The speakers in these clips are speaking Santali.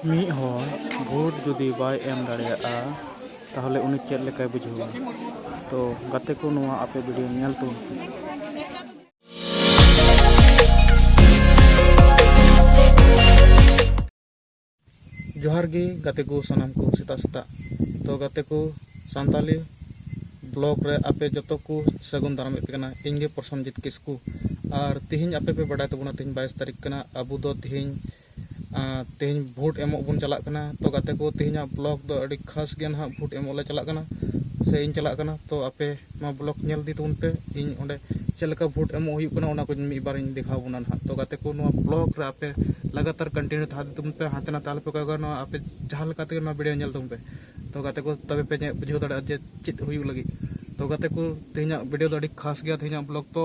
ᱢᱤᱫ ᱦᱚᱲ ᱵᱷᱳᱴ ᱡᱩᱫᱤ ᱵᱟᱭ ᱮᱢ ᱫᱟᱲᱮᱭᱟᱜᱼᱟ ᱛᱟᱦᱚᱞᱮ ᱩᱱᱤ ᱪᱮᱫ ᱞᱮᱠᱟᱭ ᱵᱩᱡᱷᱟᱹᱣᱟ? ᱛᱚ ᱜᱟᱛᱮ ᱠᱚ ᱱᱚᱣᱟ ᱟᱯᱮ ᱵᱷᱤᱰᱤᱭᱳ ᱧᱮᱞ ᱛᱟᱵᱚᱱ ᱯᱮ᱾ ᱡᱚᱦᱟᱨ ᱜᱮ ᱜᱟᱛᱮ ᱠᱚ ᱥᱟᱱᱟᱢ ᱠᱚ ᱥᱮᱛᱟᱜ ᱥᱮᱛᱟᱜ ᱛᱚ ᱜᱟᱛᱮ ᱠᱚ ᱥᱟᱱᱛᱟᱞᱤ ᱵᱞᱚᱜ ᱨᱮ ᱟᱯᱮ ᱡᱚᱛᱚ ᱠᱚ ᱥᱟᱹᱜᱩᱱ ᱫᱟᱨᱟᱢᱮᱫ ᱯᱮ ᱠᱟᱱᱟ ᱤᱧ ᱜᱮ ᱯᱨᱚᱥᱚᱱᱡᱤᱛ ᱠᱤᱥᱠᱩ ᱟᱨ ᱛᱮᱦᱮᱧ ᱟᱯᱮ ᱯᱮ ᱵᱟᱰᱟᱭ ᱛᱟᱵᱚᱱᱟ ᱛᱮᱦᱮᱧ ᱵᱟᱭᱤᱥ ᱛᱟᱹᱨᱤᱠᱷ ᱠᱟᱱᱟ ᱟᱵᱚ ᱫᱚ ᱛᱮᱦᱮᱧ ᱛᱮᱦᱮᱧ ᱵᱷᱳᱴ ᱮᱢᱚᱜ ᱵᱚᱱ ᱪᱟᱞᱟᱜ ᱠᱟᱱᱟ ᱛᱚ ᱜᱟᱛᱮ ᱠᱚ ᱛᱮᱦᱮᱧᱟᱜ ᱵᱞᱚᱜ ᱫᱚ ᱟᱹᱰᱤ ᱠᱷᱟᱥ ᱜᱮ ᱱᱟᱦᱟᱜ ᱵᱷᱳᱴ ᱮᱢᱚᱜ ᱞᱮ ᱪᱟᱞᱟᱜ ᱠᱟᱱᱟ ᱥᱮ ᱤᱧ ᱪᱟᱞᱟᱜ ᱠᱟᱱᱟ ᱛᱚ ᱟᱯᱮ ᱱᱚᱣᱟ ᱵᱞᱚᱜ ᱧᱮᱞ ᱤᱫᱤ ᱛᱟᱵᱚᱱ ᱯᱮ ᱤᱧ ᱚᱸᱰᱮ ᱪᱮᱫ ᱞᱮᱠᱟ ᱵᱷᱳᱴ ᱮᱢᱚᱜ ᱦᱩᱭᱩᱜ ᱠᱟᱱᱟ ᱚᱱᱟ ᱠᱚ ᱢᱤᱫ ᱵᱟᱨ ᱤᱧ ᱫᱮᱠᱷᱟᱣ ᱵᱚᱱᱟ ᱱᱟᱦᱟᱜ ᱛᱚ ᱜᱟᱛᱮ ᱠᱚ ᱱᱚᱣᱟ ᱵᱞᱚᱜ ᱨᱮ ᱟᱯᱮ ᱞᱟᱜᱟᱛᱟᱨ ᱠᱚᱱᱴᱤᱱᱤᱭᱩ ᱛᱟᱦᱮᱸ ᱤᱫᱤ ᱛᱟᱵᱚᱱ ᱯᱮ ᱦᱟᱱᱛᱮ ᱱᱟᱛᱮ ᱟᱞᱚᱯᱮ ᱠᱚᱭᱚᱜᱟ ᱱᱚᱣᱟ ᱟᱯᱮ ᱡᱟᱦᱟᱸ ᱞᱮᱠᱟ ᱛᱮᱜᱮ ᱱᱚᱣᱟ ᱵᱷᱤᱰᱤᱭᱳ ᱧᱮᱞ ᱛᱟᱵᱚᱱ ᱯᱮ ᱛᱚ ᱜᱟᱛᱮ ᱠᱚ ᱛᱚᱵᱮ ᱯᱮ ᱵᱩᱡᱷᱟᱹᱣ ᱫᱟᱲᱮᱭᱟᱜᱼᱟ ᱡᱮ ᱪᱮᱫ ᱦᱩᱭᱩᱜ ᱞᱟᱹᱜᱤᱫ ᱛᱚ ᱜᱟᱛᱮ ᱠᱚ ᱛᱮᱦᱮᱧᱟᱜ ᱵᱷᱤᱰᱤᱭᱳ ᱫᱚ ᱟᱹᱰᱤ ᱠᱷᱟᱥ ᱜᱮᱭᱟ ᱛᱮᱦᱮᱧᱟᱜ ᱵᱞᱚᱜ ᱫᱚ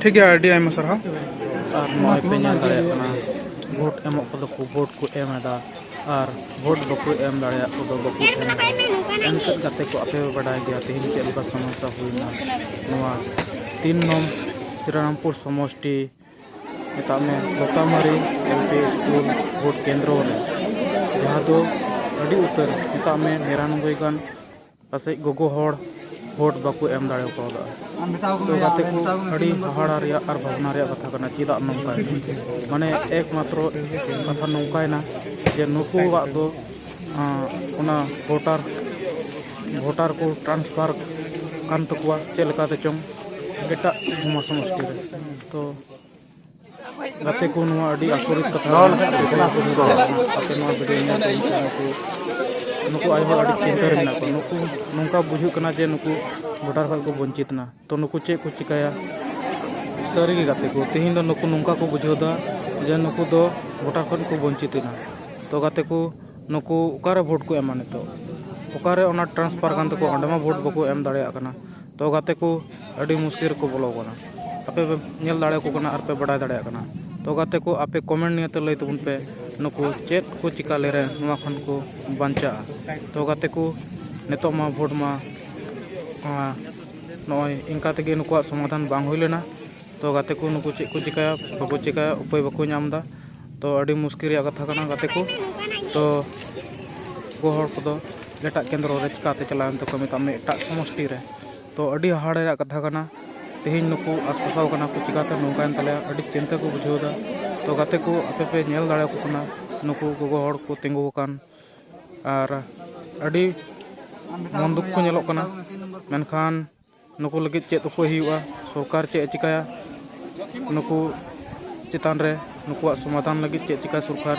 ᱴᱷᱤᱠ ᱜᱮᱭᱟ ᱟᱹᱰᱤ ᱟᱭᱢᱟ ᱥᱟᱨᱦᱟᱣ ᱟᱨ ᱱᱚᱜᱼᱚᱭ ᱯᱮ ᱧᱮᱞ ᱫᱟᱲᱮᱭᱟᱜ ᱠᱟᱱᱟ ᱵᱷᱳᱴ ᱮᱢᱚᱜ ᱠᱚᱫᱚ ᱠᱚ ᱵᱷᱳᱴ ᱠᱚ ᱮᱢ ᱮᱫᱟ ᱟᱨ ᱵᱷᱳᱴ ᱵᱟᱠᱚ ᱮᱢ ᱫᱟᱲᱮᱭᱟᱜ ᱠᱚᱫᱚ ᱵᱟᱠᱚ ᱮᱢ ᱮᱫᱟ ᱮᱱᱛᱮᱫ ᱜᱟᱛᱮ ᱠᱚ ᱟᱯᱮ ᱯᱮ ᱵᱟᱰᱟᱭ ᱜᱮᱭᱟ ᱛᱮᱦᱮᱧ ᱪᱮᱫ ᱞᱮᱠᱟ ᱥᱚᱢᱚᱥᱥᱟ ᱦᱩᱭᱱᱟ ᱱᱚᱣᱟ ᱛᱤᱱ ᱱᱚᱢ ᱥᱨᱤᱨᱟᱢᱯᱩᱨ ᱥᱚᱢᱚᱥᱴᱤ ᱢᱮᱛᱟᱜ ᱢᱮ ᱞᱚᱛᱟᱢᱟᱹᱨᱤ ᱮᱞ ᱯᱤ ᱥᱠᱩᱞ ᱵᱷᱳᱴ ᱠᱮᱱᱫᱨᱚ ᱨᱮ ᱡᱟᱦᱟᱸ ᱫᱚ ᱟᱹᱰᱤ ᱩᱛᱟᱹᱨ ᱢᱮᱛᱟᱜ ᱢᱮ ᱱᱤᱨᱟᱱᱚᱵᱵᱳᱭ ᱜᱟᱱ ᱯᱟᱥᱮᱡ ᱜᱚᱜᱚ ᱦᱚᱲ ᱵᱷᱳᱴ ᱵᱟᱠᱚ ᱮᱢ ᱫᱟᱲᱮ ᱠᱟᱣᱫᱟ ᱛᱚ ᱜᱟᱛᱮ ᱠᱚ ᱟᱹᱰᱤ ᱦᱟᱦᱟᱲᱟ ᱨᱮᱭᱟᱜ ᱟᱨ ᱵᱷᱟᱵᱽᱱᱟ ᱨᱮᱭᱟᱜ ᱠᱟᱛᱷᱟ ᱠᱟᱱᱟ ᱪᱮᱫᱟᱜ ᱱᱚᱝᱠᱟ ᱢᱟᱱᱮ ᱮᱠ ᱢᱟᱛᱨᱚ ᱠᱟᱛᱷᱟ ᱱᱚᱝᱠᱟᱭᱮᱱᱟ ᱡᱮ ᱱᱩᱠᱩᱣᱟᱜ ᱫᱚ ᱚᱱᱟ ᱵᱷᱳᱴᱟᱨ ᱵᱷᱳᱴᱟᱨ ᱠᱚ ᱴᱨᱟᱱᱥᱯᱷᱟᱨ ᱠᱟᱱ ᱛᱟᱠᱚᱣᱟ ᱪᱮᱫ ᱞᱮᱠᱟᱛᱮ ᱪᱚᱝ ᱮᱴᱟᱜ ᱥᱚᱢᱚᱥᱴᱤ ᱨᱮ ᱛᱚ ᱜᱟᱛᱮ ᱠᱚ ᱱᱚᱣᱟ ᱟᱹᱰᱤ ᱟᱥᱚᱨᱤᱛ ᱠᱟᱛᱷᱟ ᱟᱯᱮ ᱱᱚᱣᱟ ᱵᱷᱤᱰᱤᱭᱳ ᱧᱮᱞ ᱛᱮ ᱱᱩᱠᱩ ᱱᱩᱠᱩ ᱟᱭᱳ ᱦᱚᱲ ᱟᱹᱰᱤ ᱪᱤᱱᱛᱟᱹ ᱨᱮ ᱢᱮᱱᱟᱜ ᱠᱚᱣᱟ ᱱᱩᱠᱩ ᱱᱚᱝᱠᱟ ᱵᱩᱡᱷᱟᱹᱜ ᱠᱟᱱᱟ ᱡᱮ ᱱᱩᱠᱩ ᱵᱷᱳᱴᱟᱨ ᱠᱷᱚᱱ ᱠᱚ ᱵᱚᱧᱪᱤᱛ ᱮᱱᱟ ᱛᱚ ᱱᱩᱠᱩ ᱪᱮᱫ ᱠᱚ ᱪᱤᱠᱟᱹᱭᱟ ᱥᱟᱹᱨᱤᱜᱮ ᱜᱟᱛᱮ ᱠᱚ ᱛᱮᱦᱮᱧ ᱫᱚ ᱱᱩᱠᱩ ᱱᱚᱝᱠᱟ ᱠᱚ ᱵᱩᱡᱷᱟᱹᱣ ᱮᱫᱟ ᱡᱮ ᱱᱩᱠᱩ ᱫᱚ ᱵᱷᱳᱴᱟᱨ ᱠᱷᱚᱱ ᱠᱚ ᱵᱚᱧᱪᱤᱛ ᱮᱱᱟ ᱛᱚ ᱜᱟᱛᱮ ᱠᱚ ᱱᱩᱠᱩ ᱚᱠᱟᱨᱮ ᱵᱷᱳᱴ ᱠᱚ ᱮᱢᱟ ᱱᱤᱛᱚᱜ ᱚᱠᱟᱨᱮ ᱚᱱᱟ ᱴᱨᱟᱱᱥᱯᱷᱟᱨ ᱠᱟᱱ ᱛᱟᱠᱚᱣᱟ ᱚᱸᱰᱮ ᱢᱟ ᱵᱷᱳᱴ ᱵᱟᱠᱚ ᱮᱢ ᱫᱟᱲᱮᱭᱟᱜ ᱠᱟᱱᱟ ᱛᱚ ᱜᱟᱛᱮ ᱠᱚ ᱟᱹᱰᱤ ᱢᱩᱥᱠᱤᱞ ᱨᱮᱠᱚ ᱵᱚᱞᱚ ᱟᱠᱟᱱᱟ ᱟᱯᱮ ᱯᱮ ᱧᱮᱞ ᱫᱟᱲᱮᱭᱟᱠᱚ ᱠᱟᱱᱟ ᱟᱨ ᱯᱮ ᱵᱟᱰᱟᱭ ᱫᱟᱲᱮᱭᱟᱜ ᱠᱟᱱᱟ ᱛᱚ ᱜᱟᱛᱮ ᱠᱚ ᱟᱯᱮ ᱠᱚᱢᱮᱱᱴ ᱱᱤᱭᱟᱹᱛᱮ ᱞᱟᱹᱭ ᱛᱟᱵᱚᱱ ᱯᱮ ᱱᱩᱠᱩ ᱪᱮᱫ ᱠᱚ ᱪᱤᱠᱟᱹ ᱞᱮᱨᱮ ᱱᱚᱣᱟ ᱠᱷᱚᱱ ᱠᱚ ᱵᱟᱧᱪᱟᱜᱼᱟ ᱛᱚ ᱜᱟᱛᱮ ᱠᱚ ᱱᱤᱛᱚᱜ ᱢᱟ ᱵᱷᱳᱴ ᱢᱟ ᱱᱚᱜᱼᱚᱭ ᱤᱱᱠᱟ ᱛᱮᱜᱮ ᱱᱩᱠᱩᱣᱟᱜ ᱥᱚᱢᱟᱫᱷᱟᱱ ᱵᱟᱝ ᱦᱩᱭ ᱞᱮᱱᱟ ᱛᱚ ᱜᱟᱛᱮ ᱠᱚ ᱱᱩᱠᱩ ᱪᱮᱫ ᱠᱚ ᱪᱤᱠᱟᱹᱭᱟ ᱵᱟᱠᱚ ᱪᱤᱠᱟᱹᱭᱟ ᱩᱯᱟᱹᱭ ᱵᱟᱠᱚ ᱧᱟᱢᱫᱟ ᱛᱚ ᱟᱹᱰᱤ ᱢᱩᱥᱠᱤᱞ ᱨᱮᱭᱟᱜ ᱠᱟᱛᱷᱟ ᱠᱟᱱᱟ ᱜᱟᱛᱮ ᱠᱚ ᱛᱚ ᱜᱚ ᱦᱚᱲ ᱠᱚᱫᱚ ᱮᱴᱟᱜ ᱠᱮᱱᱫᱨᱚ ᱨᱮ ᱪᱤᱠᱟᱹᱛᱮ ᱪᱟᱞᱟᱣ ᱮᱱ ᱛᱟᱠᱚᱣᱟ ᱢᱮᱛᱟᱜ ᱢᱮ ᱮᱴᱟᱜ ᱥᱚᱢᱚᱥᱴᱤ ᱨᱮ ᱛᱚ ᱟᱹᱰᱤ ᱦᱟᱦᱟᱲᱟ ᱨᱮᱭᱟᱜ ᱠᱟᱛᱷᱟ ᱠᱟᱱᱟ ᱛᱮᱦᱮᱧ ᱱᱩᱠᱩ ᱟᱥᱯᱟᱥᱟᱣ ᱠᱟᱱᱟ ᱠᱚ ᱪᱤᱠᱟᱹᱛᱮ ᱱᱚᱝᱠᱟᱭᱮᱱ ᱛᱟᱞᱮᱭᱟ ᱟᱹᱰᱤ ᱪᱤᱱᱛᱟᱹ ᱠᱚ ᱵᱩᱡᱷᱟᱹᱣ ᱮᱫᱟ ᱛᱚ ᱜᱟᱛᱮ ᱠᱚ ᱟᱯᱮ ᱯᱮ ᱧᱮᱞ ᱫᱟᱲᱮᱭᱟᱠᱚ ᱠᱟᱱᱟ ᱱᱩᱠᱩ ᱜᱚᱜᱚ ᱦᱚᱲ ᱠᱚ ᱛᱤᱸᱜᱩ ᱟᱠᱟᱱ ᱟᱨ ᱟᱹᱰᱤ ᱢᱚᱱ ᱫᱩᱠ ᱠᱚ ᱧᱮᱞᱚᱜ ᱠᱟᱱᱟ ᱢᱮᱱᱠᱷᱟᱱ ᱱᱩᱠᱩ ᱞᱟᱹᱜᱤᱫ ᱪᱮᱫ ᱩᱯᱟᱹᱭ ᱦᱩᱭᱩᱜᱼᱟ ᱥᱚᱨᱠᱟᱨ ᱪᱮᱫ ᱮ ᱪᱤᱠᱟᱹᱭᱟ ᱱᱩᱠᱩ ᱪᱮᱛᱟᱱ ᱨᱮ ᱱᱩᱠᱩᱣᱟᱜ ᱥᱚᱢᱟᱫᱷᱟᱱ ᱞᱟᱹᱜᱤᱫ ᱪᱮᱫ ᱪᱤᱠᱟᱹᱭᱟ ᱥᱚᱨᱠᱟᱨ